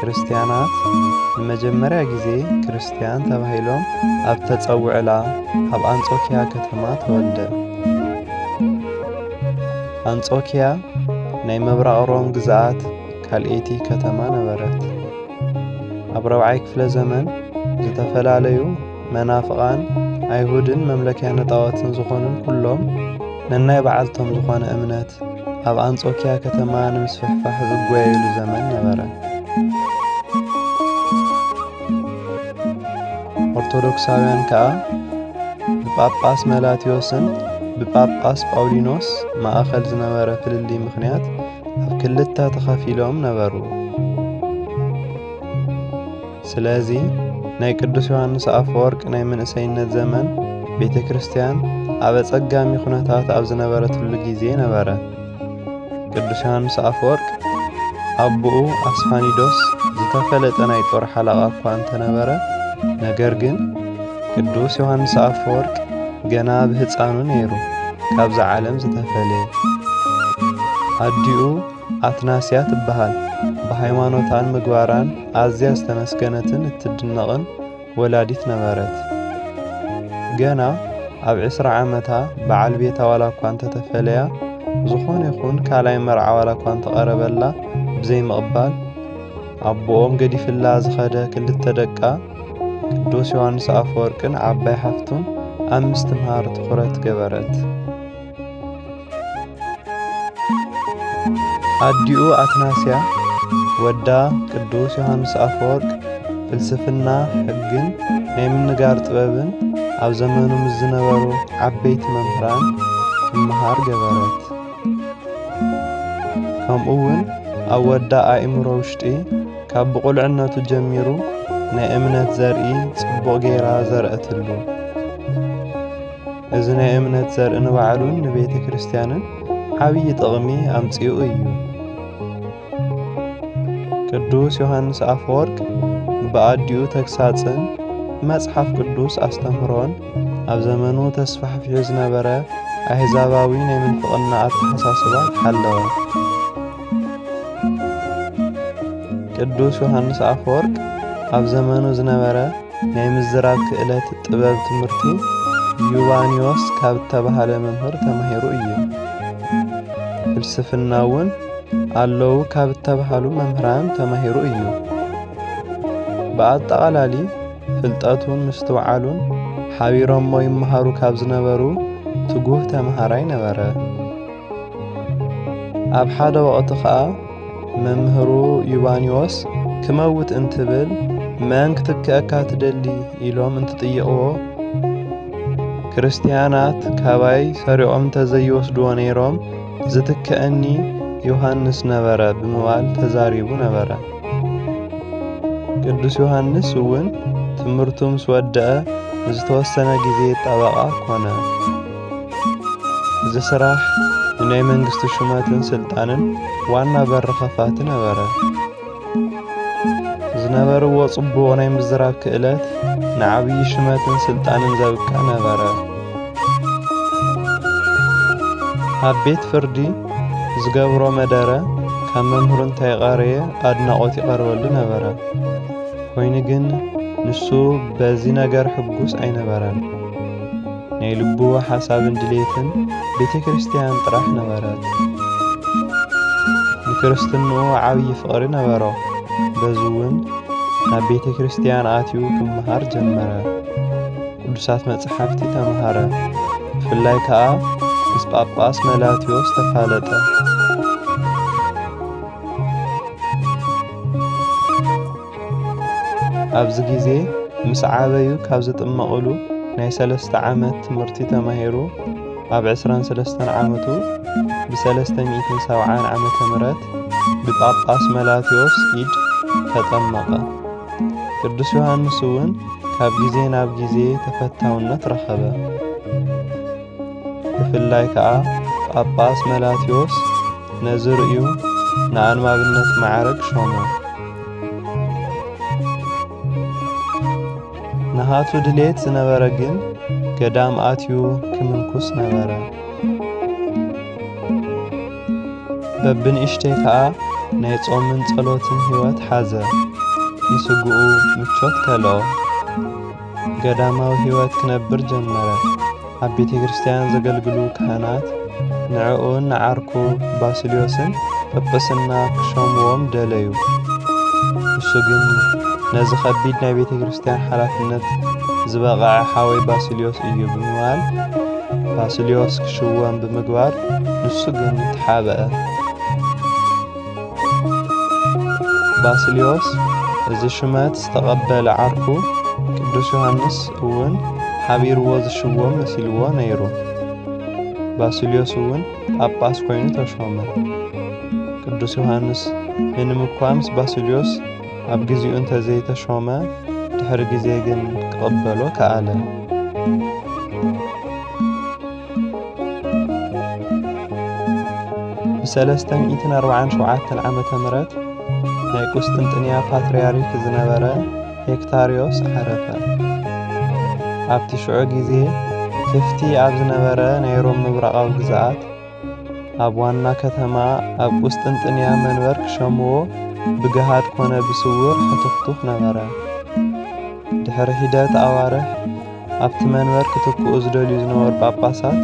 ክርስትያናት ንመጀመርያ ጊዜ ክርስትያን ተባሂሎም ኣብ ተጸውዕላ ኣብ ኣንጾኪያ ከተማ ተወልደ። ኣንጾኪያ ናይ ምብራቕ ሮም ግዝኣት ካልኤቲ ከተማ ነበረት። ኣብ ረብዓይ ክፍለ ዘመን ዝተፈላለዩ መናፍቓን ኣይሁድን መምለኪያነ ጣዖትን ዝኾኑን ኩሎም ነናይ በዓልቶም ዝኾነ እምነት ኣብ ኣንጾኪያ ከተማ ንምስፍሕፋሕ ዝጓየሉ ዘመን ነበረ። ኦርቶዶክሳውያን ከኣ ብጳጳስ መላትዮስን ብጳጳስ ጳውሊኖስ ማእኸል ዝነበረ ፍልሊ ምኽንያት ኣብ ክልተ ተኸፊሎም ነበሩ። ስለዚ ናይ ቅዱስ ዮሃንስ ኣፈወርቅ ናይ መንእሰይነት ዘመን ቤተ ክርስቲያን ኣብ ኣጸጋሚ ዅነታት ኣብ ዝነበረትሉ ጊዜ ነበረ። ቅዱስ ዮሃንስ ኣፈወርቅ ኣቦኡ ኣስፋኒዶስ ዝተፈለጠ ናይ ጦር ሓለቓ እኳ እንተነበረ፣ ነገር ግን ቅዱስ ዮሃንስ ኣፈወርቅ ገና ብህፃኑ ነይሩ ካብዛ ዓለም ዝተፈለየ ኣዲኡ ኣትናስያ ትበሃል። ብሃይማኖታን ምግባራን ኣዝያ ዝተመስገነትን እትድነቕን ወላዲት ነበረት። ገና ኣብ ዕስራ ዓመታ በዓል ቤታ ዋላ እኳ እንተተፈለያ፣ ዝኾነ ይኹን ካልኣይ መርዓ ዋላ እኳ እንተቐረበላ ብዘይምቕባል፣ ኣቦኦም ገዲፍላ ዝኸደ ክልተ ደቃ ቅዱስ ዮሃንስ ኣፈወርቅን ዓባይ ሓፍቱን ኣብ ምስትምሃር ትኹረት ገበረት። ኣዲኡ ኣትናስያ፣ ወዳ ቅዱስ ዮሃንስ ኣፈወርቅ ፍልስፍና ሕግን ናይ ምንጋር ጥበብን ኣብ ዘመኑ ምስ ዝነበሩ ዓበይቲ መምህራን ክመሃር ገበረት። ከምኡ እውን ኣብ ወዳ ኣእምሮ ውሽጢ ካብ ብቑልዕነቱ ጀሚሩ ናይ እምነት ዘርኢ ጽቡቕ ገይራ ዘርአትሉ። እዚ ናይ እምነት ዘርኢ ንባዕሉን ንቤተ ክርስቲያንን ዓብዪ ጥቕሚ ኣምጺኡ እዩ። ቅዱስ ዮሐንስ ኣፈወርቅ ብኣዲኡ ተግሳጽን መጽሓፍ ቅዱስ ኣስተምህሮን ኣብ ዘመኑ ተስፋሕፊሑ ዝነበረ ኣሕዛባዊ ናይ ምንፍቕና ኣተሓሳስባ ተሓለወ። ቅዱስ ዮሐንስ ኣፈወርቅ ኣብ ዘመኑ ዝነበረ ናይ ምዝራብ ክእለት ጥበብ ትምህርቲ ዩባንዮስ ካብ እተባህለ መምህር ተማሂሩ እዩ። ፍልስፍና እውን ኣለዉ ካብ እተባህሉ መምህራን ተማሂሩ እዩ። ብኣጠቓላሊ ፍልጠቱን ምስትውዓሉን ሓቢሮሞ ይመሃሩ ካብ ዝነበሩ ትጉህ ተምሃራይ ነበረ። ኣብ ሓደ ወቕቲ ኸኣ መምህሩ ዩባንዮስ ክመውት እንትብል መን ክትክአካ ትደሊ ኢሎም እንትጥይቕዎ ክርስትያናት ካባይ ሰሪቖም እንተዘይወስድዎ ነይሮም ዝትክአኒ ዮሐንስ ነበረ ብምባል ተዛሪቡ ነበረ። ቅዱስ ዮሐንስ እውን ትምህርቱ ምስ ወደአ ንዝተወሰነ ጊዜ ጠበቓ ኮነ። እዚ ስራሕ ንናይ መንግስቲ ሹመትን ስልጣንን ዋና በሪ ከፋቲ ነበረ። ዝነበርዎ ጽቡቕ ናይ ምዝራብ ክእለት ንዓብዪ ሽመትን ስልጣንን ዘብቅዕ ነበረ። ኣብ ቤት ፍርዲ ዝገብሮ መደረ ካብ መምህሩ እንታይ ቐረየ ኣድናቖት ይቐርበሉ ነበረ። ኮይኑ ግን ንሱ በዚ ነገር ሕጉስ ኣይነበረን። ናይ ልቡ ሓሳብን ድሌትን ቤተ ክርስቲያን ጥራሕ ነበረት። ንክርስትንኡ ዓብዪ ፍቕሪ ነበሮ። በዚ እውን ናብ ቤተ ክርስቲያን ኣትዩ ክመሃር ጀመረ። ቅዱሳት መጽሓፍቲ ተምሃረ። ብፍላይ ከዓ ምስ ጳጳስ መላትዮስ ተፋለጠ። ኣብዚ ግዜ ምስ ዓበዩ ካብ ዝጥመቕሉ ናይ ሰለስተ ዓመት ትምህርቲ ተማሂሩ ኣብ ዕስራን ሰለስተን ዓመቱ ብሰለስተ ሚእትን ሰብዓን ዓመተ ምሕረት ብጳጳስ መላትዮስ ኢድ ተጠመቐ። ቅዱስ ዮሃንስ እውን ካብ ግዜ ናብ ግዜ ተፈታውነት ረኸበ። ብፍላይ ከኣ ጳጳስ መላትዮስ ነዚ ርእዩ ንኣንባብነት ማዕረግ ሾሞ ንሃቱ ድሌት ዝነበረ ግን ገዳም ኣትዩ ክምንኩስ ነበረ በብንእሽተይ ከኣ ናይ ጾምን ጸሎትን ሕይወት ሓዘ ንስግኡ ምቾት ከልኦ ገዳማዊ ሕይወት ክነብር ጀመረ። ኣብ ቤተ ክርስቲያን ዘገልግሉ ካህናት ንዕኡን ንዓርኩ ባስልዮስን ጵጵስና ክሸምዎም ደለዩ። ንሱ ግን ነዚ ከቢድ ናይ ቤተ ክርስቲያን ሓላፍነት ዝበቐዐ ሓወይ ባስልዮስ እዩ ብምባል ባስልዮስ ክሽወም ብምግባር ንሱ ግን ተሓበአ። ባስልዮስ እዚ ሽመት ዝተቐበለ ዓርኩ ቅዱስ ዮሃንስ እውን ሓቢርዎ ዝሽወም መሲልዎ ነይሩ። ባስልዮስ እውን ጳጳስ ኮይኑ ተሾመ። ቅዱስ ዮሃንስ ምንም እኳ ምስ ባስልዮስ ኣብ ጊዜኡ እንተዘይተሾመ ድሕሪ ጊዜ ግን ክቕበሎ ከኣለ። ብሰለስተ ሚእትን ኣርብዓን ሸውዓተን ዓመተ ምሕረት ናይ ቁስጥንጥንያ ፓትርያርክ ዝነበረ ሄክታርዮስ ዓረፈ። ኣብቲ ሽዑ ግዜ ክፍቲ ኣብ ዝነበረ ናይ ሮም ምብራቓዊ ግዝኣት ኣብ ዋና ከተማ ኣብ ቁስጥንጥንያ መንበር ክሸምዎ ብገሃድ ኮነ ብስውር ሕትኽቱኽ ነበረ። ድሕሪ ሒደት ኣዋርሕ ኣብቲ መንበር ክትክኡ ዝደልዩ ዝነበሩ ጳጳሳት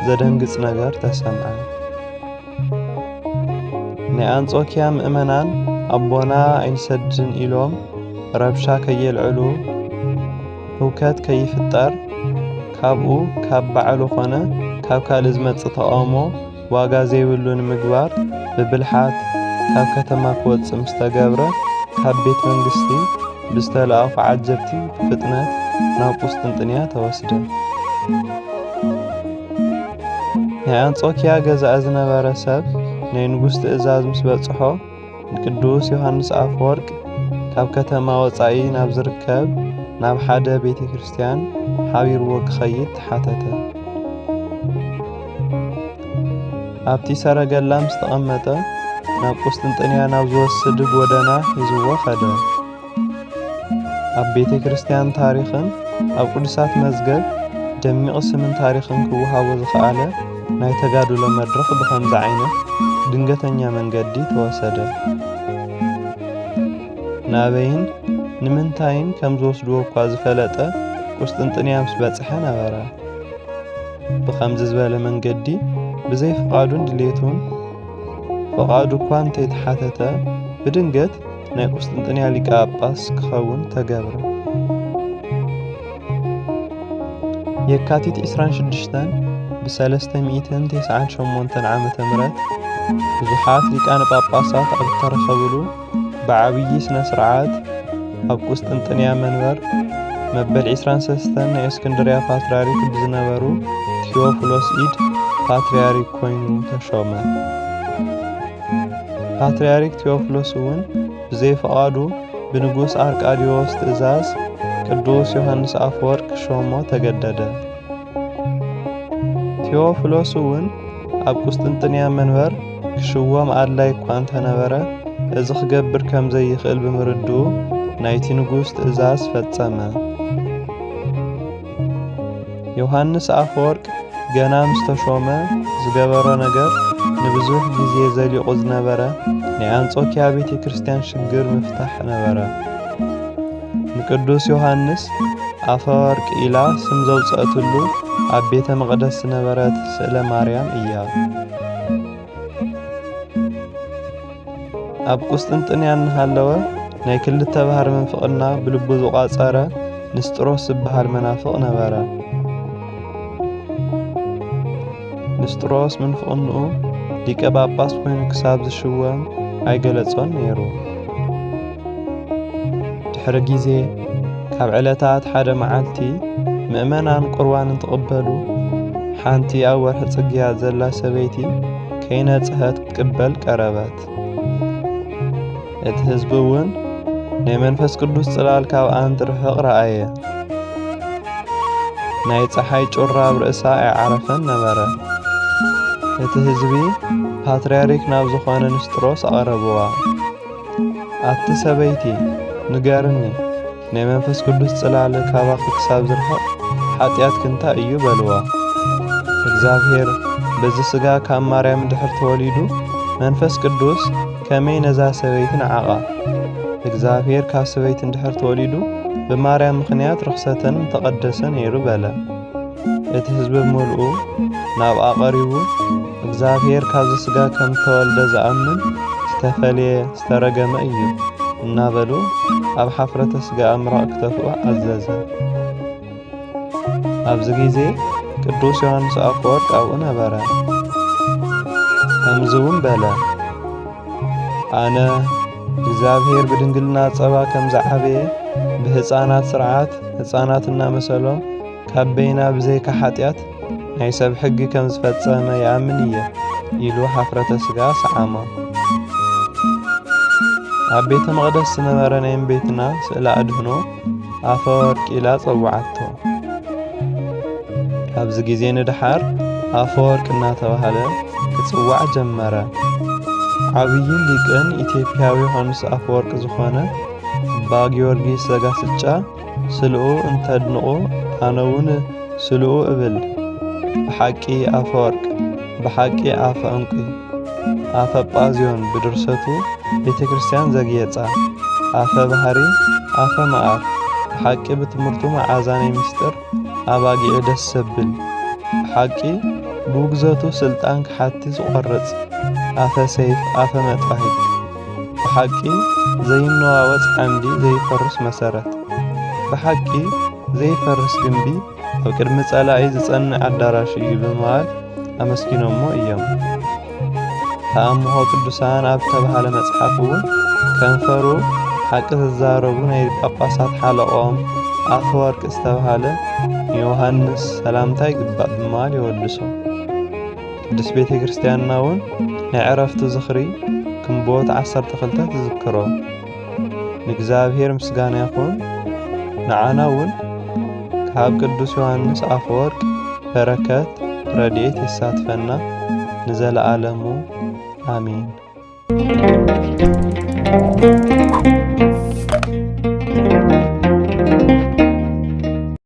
ዘደንግጽ ነገር ተሰምዐ። ናይ ኣንጾኪያ ምእመናን ኣቦና ኣይንሰድን ኢሎም ረብሻ ከየልዕሉ ህውከት ከይፍጠር ካብኡ ካብ ባዕሉ ኮነ ካብ ካልእ ዝመጽእ ተቓውሞ ዋጋ ዘይብሉ ንምግባር ብብልሓት ካብ ከተማ ክወጽእ ምስ ተገብረ፣ ካብ ቤት መንግስቲ ብዝተላእኩ ዓጀብቲ ብፍጥነት ናብ ቁስጥንጥንያ ተወስደ። ናይ ኣንጾኪያ ገዛኢ ዝነበረ ሰብ ናይ ንጉስ ትእዛዝ ምስ በጽሖ፣ ቅዱስ ዮሐንስ ኣፈወርቅ ካብ ከተማ ወጻኢ ናብ ዝርከብ ናብ ሓደ ቤተ ክርስቲያን ሓቢርዎ ክኸይድ ተሓተተ። ኣብቲ ሰረገላ ምስ ተቐመጠ ናብ ቁስጥንጥንያ ናብ ዝወስድ ጎደና ሒዝዎ ኸደ። ኣብ ቤተ ክርስቲያን ታሪኽን ኣብ ቅዱሳት መዝገብ ደሚቕ ስምን ታሪኽን ክወሃቦ ዝኸኣለ ናይ ተጋድሎ መድረኽ ብኸምዚ ዓይነት ድንገተኛ መንገዲ ተወሰደ። ናበይን ንምንታይን ከም ዝወስድዎ እኳ ዝፈለጠ ቁስጥንጥንያ ምስ በጽሐ ነበረ። ብኸምዚ ዝበለ መንገዲ ብዘይ ፍቓዱን ድሌቱን ፍቓዱ እኳ እንተይተሓተተ ብድንገት ናይ ቁስጥንጥንያ ሊቀ ጳጳስ ክኸውን ተገብረ። የካቲት 26 ብ398 ዓ ም ብዙሓት ሊቃነ ጳጳሳት ኣብ ዝተረኸብሉ ብዓብዪ ስነ ስርዓት ኣብ ቁስጥንጥንያ መንበር መበል 23 ናይ እስክንድርያ ፓትርያርክ ብዝነበሩ ቴዎፍሎስ ኢድ ፓትርያርክ ኮይኑ ተሾመ። ፓትርያርክ ቴዎፍሎስ እውን ብዘይፍቓዱ ብንጉስ ኣርቃድዮስ ትእዛዝ ቅዱስ ዮሐንስ ኣፈወርቅ ክሾሞ ተገደደ። ቴዎፍሎስ እውን ኣብ ቁስጥንጥንያ መንበር ክሽወም ኣድላይ እኳ እንተነበረ እዚ ክገብር ከም ዘይኽእል ብምርድኡ ናይቲ ንጉስ ትእዛዝ ፈጸመ። ዮሃንስ ኣፈወርቅ ገና ምስ ተሾመ ዝገበሮ ነገር ንብዙሕ ግዜ ዘሊቑ ዝነበረ ናይ ኣንጾኪያ ቤተ ክርስቲያን ሽግር ምፍታሕ ነበረ። ንቅዱስ ዮሃንስ ኣፈወርቅ ኢላ ስም ዘውጽአትሉ ኣብ ቤተ መቕደስ ዝነበረት ስእለ ማርያም እያ። ኣብ ቁስጥንጥንያ እናሃለወ ናይ ክልተ ባህር ምንፍቕና ብልቡ ዝቋጸረ ንስጥሮስ ዝበሃል መናፍቕ ነበረ። ንስጥሮስ ምንፍቕንኡ ሊቀ ጳጳስ ኮይኑ ክሳብ ዝሽወም ኣይገለጾን ነይሩ። ድሕሪ ግዜ ካብ ዕለታት ሓደ መዓልቲ ምእመናን ቁርባን እንትቕበሉ ሓንቲ ኣብ ወርሒ ጽግያት ዘላ ሰበይቲ ከይነጽሀት ክትቅበል ቀረበት። እቲ ህዝቢ እውን ናይ መንፈስ ቅዱስ ጽላል ካብኣ እንትርሕቕ ረኣየ። ናይ ፀሓይ ጩራ ኣብ ርእሳ ኣይዓረፈን ነበረ። እቲ ህዝቢ ፓትርያርክ ናብ ዝኾነ ንስጥሮስ ኣቐረብዋ። ኣቲ ሰበይቲ ንገርኒ ናይ መንፈስ ቅዱስ ጽላለ ካባኺ ክሳብ ዝርሕቕ ሓጢኣት ክንታ እዩ በልዋ። እግዚኣብሔር በዚ ሥጋ ካብ ማርያም ድሕር ተወሊዱ መንፈስ ቅዱስ ከመይ ነዛ ሰበይቲ ንዓቓ። እግዚኣብሔር ካብ ሰበይቲ እንድሕር ተወሊዱ ብማርያም ምኽንያት ርኽሰተን ተቐደሰ ነይሩ በለ። እቲ ሕዝቢ ብምልኡ ናብኣ ቐሪቡ እግዚኣብሔር ካብዚ ስጋ ከም እተወልደ ዝኣምን ዝተፈልየ ዝተረገመ እዩ እናበሉ ኣብ ሓፍረተ ስጋኣ ምራቕ ክተፍኡ ኣዘዘ። ኣብዚ ግዜ ቅዱስ ዮሐንስ ኣፈወርቅ ኣብኡ ነበረ። ከምዚ እውን በለ፣ ኣነ እግዚኣብሔር ብድንግልና ጸባ ከም ዝዓበየ ብህፃናት ስርዓት ህፃናት እናመሰሎም ካብ በይና ብዘይካ ሓጢኣት ናይ ሰብ ሕጊ ከም ዝፈጸመ ይኣምን እየ ኢሉ ሓፍረተ ስጋ ሰዓሞ። ኣብ ቤተ መቕደስ ዝነበረ ናይ እምቤትና ስእለ ኣድህኖ ኣፈ ወርቂ ኢላ ጸውዓቶ። ኣብዚ ግዜ ንድሓር ኣፈ ወርቂ እናተባህለ ክጽዋዕ ጀመረ። ዓብይን ሊቅን ኢትዮጵያዊ ዮሃንስ ኣፈወርቂ ዝኾነ ኣባ ጊዮርጊስ ዘጋስጫ ስልኡ እንተድንቑ ኣነ ውን ስልኡ እብል ብሓቂ ኣፈወርቅ ብሓቂ ኣፈ እንቁ ኣፈ ጳዝዮን ብድርሰቱ ቤተ ክርስቲያን ዘግየጸ ኣፈ ባህሪ ኣፈ መኣር ብሓቂ ብትምህርቱ መዓዛነይ ምስጢር ኣባጊዑ ደስ ዘብል ብሓቂ ብውግዘቱ ስልጣን ክሓቲ ዝቖርጽ ኣፈ ሰይፍ ኣፈ መጥባሂት ብሓቂ ዘይነዋወጽ ዓምዲ ዘይፈርስ መሰረት ብሓቂ ዘይፈርስ ግምቢ ኣብ ቅድሚ ጸላኢ ዝጸንዕ ኣዳራሽ እዩ ብምባል ኣመስጊኖሞ እዮም። ተኣምሆ ቅዱሳን ኣብ ዝተባህለ መጽሓፍ እውን ከንፈሩ ሓቂ ዝዛረቡ ናይ ጳጳሳት ሓለቆም ኣፈወርቂ ዝተባህለ ንዮሃንስ ሰላምታ ይግባእ ብምባል የወድሶ። ቅዱስ ቤተ ክርስቲያንና እውን ናይ ዕረፍቱ ዝኽሪ ግንቦት ዓሰርተ ክልተ ትዝክሮ ንእግዚኣብሔር ምስጋና ይኹን ንዓና እውን ካብ ቅዱስ ዮሐንስ አፈወርቅ በረከት ረድኤት ይሳትፈና ንዘለዓለሙ አሜን።